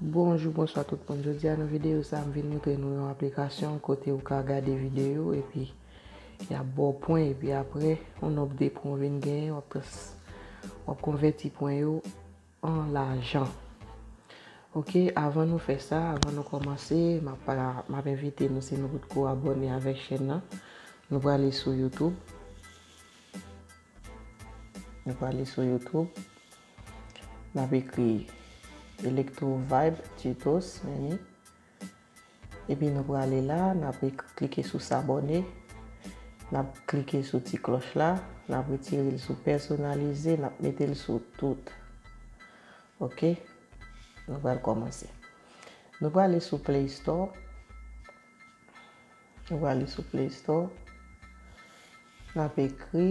Bonjou bonswa tout moun jodia nan videyo sa m vin moutre nou yon aplikasyon kote ou ka gade videyo epi yap baw pwen epi aprè yon nonb de pwen ou vin genyen wap trans wap konvèti pwen yo an lajan ok avan nou fè sa avan nou kòmanse map pala map envite nou si nou potko abòne avèk chèn nan nou prale sou YouTube nou prale sou YouTube. Nap ekri electro vibe tutos meni epi nou prale la nap klike sou sabone nap klike sou ti kloch la nap retirel sou pèsonalize nap metel sou tout ok nou pral kòmanse nou prale sou play store nou prale sou play store nap ekri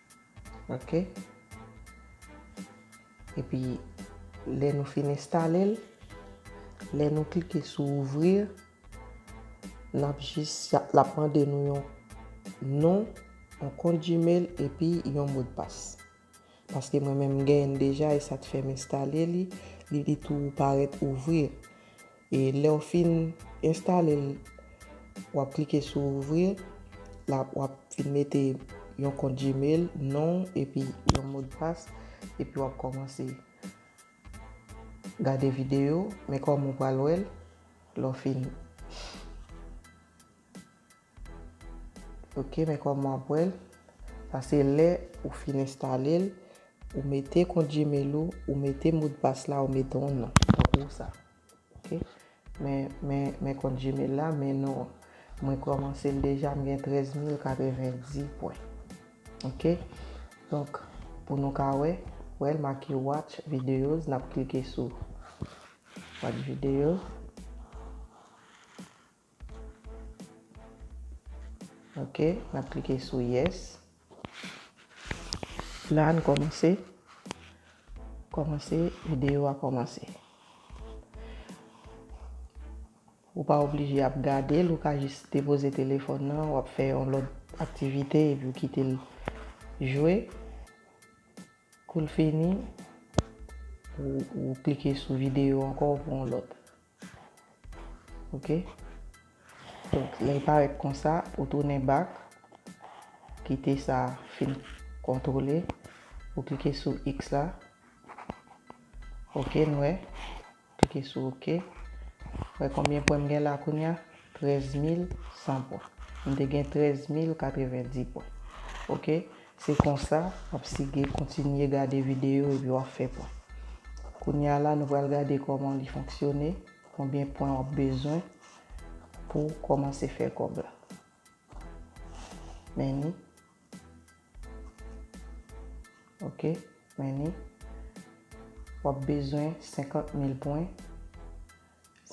Ok epi lè nou fin enstalel lè nou klike sou ouvrir nap jis lap mande nou yon non yon kont gmail epi yon modpas paske mwen menm m genyenn deja e sa t fèm enstale li li di tou parèt ouvrir E lèw fin enstale l wap klike sou ouvrir la wap vin mete yon kont gmail non w epi yon modpas epi wap kòmanse gade video men kòm ou pral wèl lèw fin. Ok men kòman wap wèl sa se lè ou fin enstalel ou mete kont gmail ou ou mete modpas la ou mete yon non tankou sa ok men men men kont gmail la men non an mwen kòmansel deja mgen 13090 pwen ok donk pou nou ka wè wèl make watch videos nap klike sou watch video. Ok, n ap klike sou yes. La a n kòmanse, kòmanse, videyo a kòmanse. Ou pa oblije ap gade l, ou ka jis depoze telefòn nan, w ap fè yon lòt aktivite epi w kite l jwe. Kou l fini, ou klike sou videyo ankò pou yon lòt. Ok. Donk, lè l parèt konsa, ou tounen bak. Kite sa fin kontwole. Ou klike sou X la. Ok, n wè. Klike sou ok. Wè konbyen pwen m gen la kounya? 13100 pwen. M te gen 13090 pwen. Ok. Se konsa, ap sige, kontinye gade videyo epi wap fè pwen. Kounye a la nou pral gade kòman li fonksyone, konbyen pwen wap bezwen pou kòmanse fè kòb la. Many. Ok, many. Wap bezwen 50 mil pwen.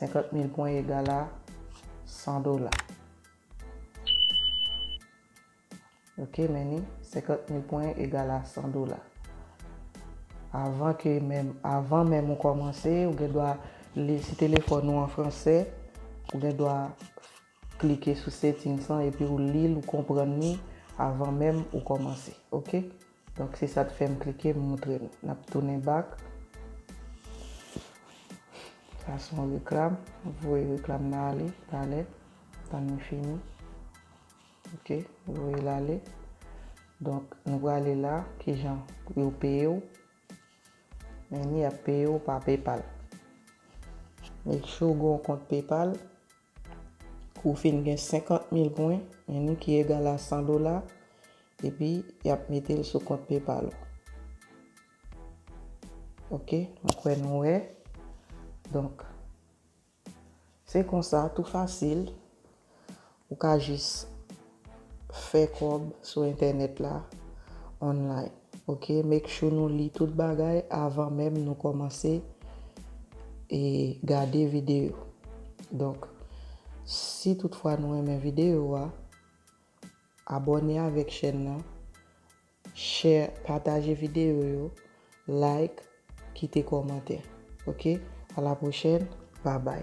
50 mil pwen egal a 100 dola. Ok meni, 50 mil pwen egal a 100 dola. Avan ke menm, avan menm ou kòmanse, ou gen dwa li, si telefòn ou an fransè, ou gen dwa klike sou settings lan epi ou li l, ou konprann li avan menm ou kòmanse. Ok. Donk se sa t fè m klike m moutre nou. Nap tounen back. Sa son reklam. Voye reklam nan ale talè. Tann li fini. Ok yo voye l ale. Donk nou prale la kijan pou yo peye w. Men ni ap peye w pa PayPal. Make sure ou gen yon kont PayPal. Kou w fin gen 50 mil pwen men ni ki egal a 100 dola epi y ap mete l sou kont PayPal ou. Ok mwen kwè nou wè. Donk Se konsa tou fasil ou ka jis fè kòb sou entènèt la online ok make sure nou li tout bagay avan menm nou kòmanse e gade videyo donk si tout fwa nou renmen videyo a abòne avèk chèn nan Share pataje video yo like kite komantè ok a la prochèn babay.